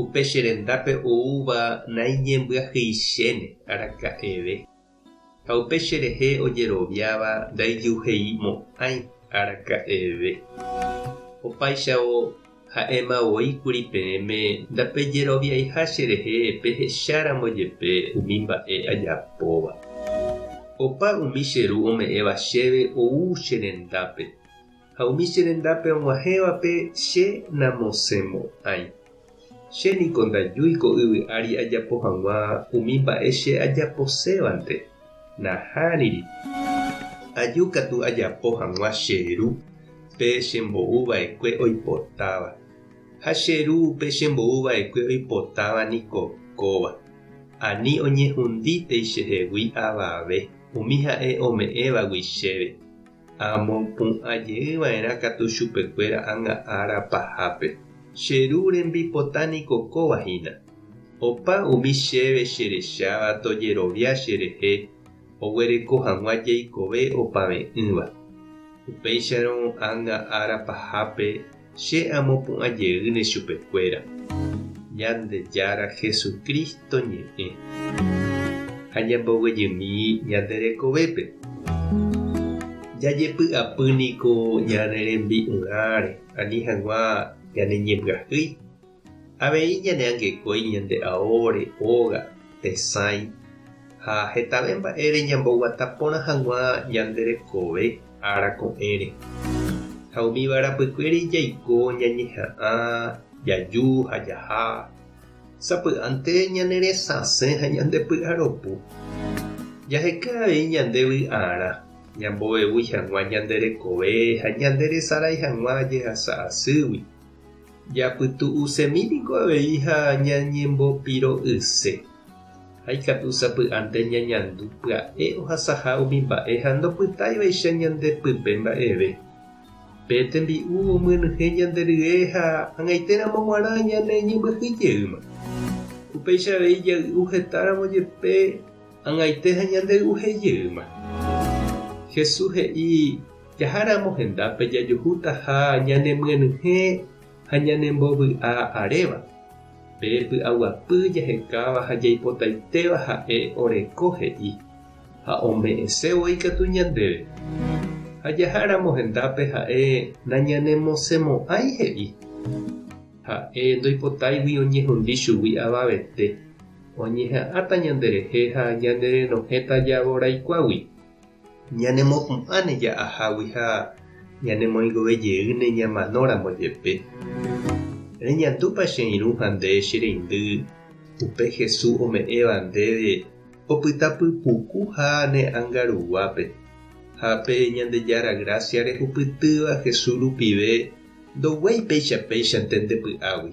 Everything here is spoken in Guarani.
Upe che rendápe oúva naiñembyahyichéne araka'eve, ha upe che rehe ojeroviáva ndaijuheimo'ãi araka'eve. Opáichavo, ha'éma voi kuri peẽme ndapejeroviaiha che rehe pehecháramo jepe umi mba'e ajapóva. Opa umi che Ru ome'ẽva chéve ou che rendápe, Ha umi che rendápe og̃uahẽvape che namosẽmo'ãi. Che niko ndajúi ko yvy ári ajapo hag̃ua umi mba'e che ajaposévante, nahániri. Aju katu ajapo hag̃ua che Ru pe che mbou vaekue oipotáva. Ha che Ru pe che mbou vaekue oipotáva niko kóva, ani oñehundítei chehegui avave umi ha'e ome'ẽvagui chéve. Ha amopu'ã jey va'erã katu chupe kuéra ánga ára pahápe. Che Ru rembipota niko kóva hína. Opa umi chéve che recháva tojerovia che rehe oguereko haguã jeikove opave'ỹva. Upéicharõ ánga ára pahápe, Che amopu'ã jeýne chupekuéra Ñandejára Jesucristo ñe'ẽ ha ñamboguejymi ñande rekovépe. Jajepy'apy niko ñane rembi'urãre ani hag̃ua ñane ñembyahýi Avei ñaneangekói ñande aóre, óga, tesãi ha hetave mba'ére ñamboguata porã hag̃ua ñande rekove ára ko'ẽre. Ha umíva rapykuéri jaiko ñañeha'ã, jaju ha jaha. Sapy'ánte ñaneresãse ha ñandepy'aropu. Jaheka avei ñande vy'arã, ñambovevúi hag̃ua ñande rekove ha ñanderesarái hag̃ua jehasa asýgui. Japytu'usemi piko avei ha ñañembopiro'yse. Ha ikatu sapy'ánte ñañandu pya'e ohasaha umi mba'e ha ndopytáivaicha ñande pype mba'eve. Pe tembi'u omyenyhẽ ñande rye ha hag̃aitéramo g̃uarã ñane ñembyahýi jeýma. Upéicha avei jay'u hetáramo jepe ag̃aite ha ñande y'uhe jeýma. Jesús he'i. Jaháramo hendápe jajuhútaha ñanemyenyhẽ ha ñanembovy'a aréva. Pe py'aguapy jahekáva ha jaipotaitéva ha'e oreko he'i ha ome'ẽse voi katu ñandéve. Ha jaháramo hendápe ha'e nañanemosemo'ãi he'i. Ha'e ndoipotáigui oñehundi chugui avavete, oñeha'ãta ñanderehe ha ñanerenohẽta javoraikuágui. Ñanemopu'ãne ja'ahágui ha ñanemoingove jeýne ñamanóramo jepe. Reñandúpa che irũ ha nde, che reindy, upe Jesús ome'ẽva ndéve opyta pypuku ha ne ánga ruguápe? Ha pe Ñandejára grásia rehupytýva Jesús rupive ndoguái péicha péichante nde py'águi.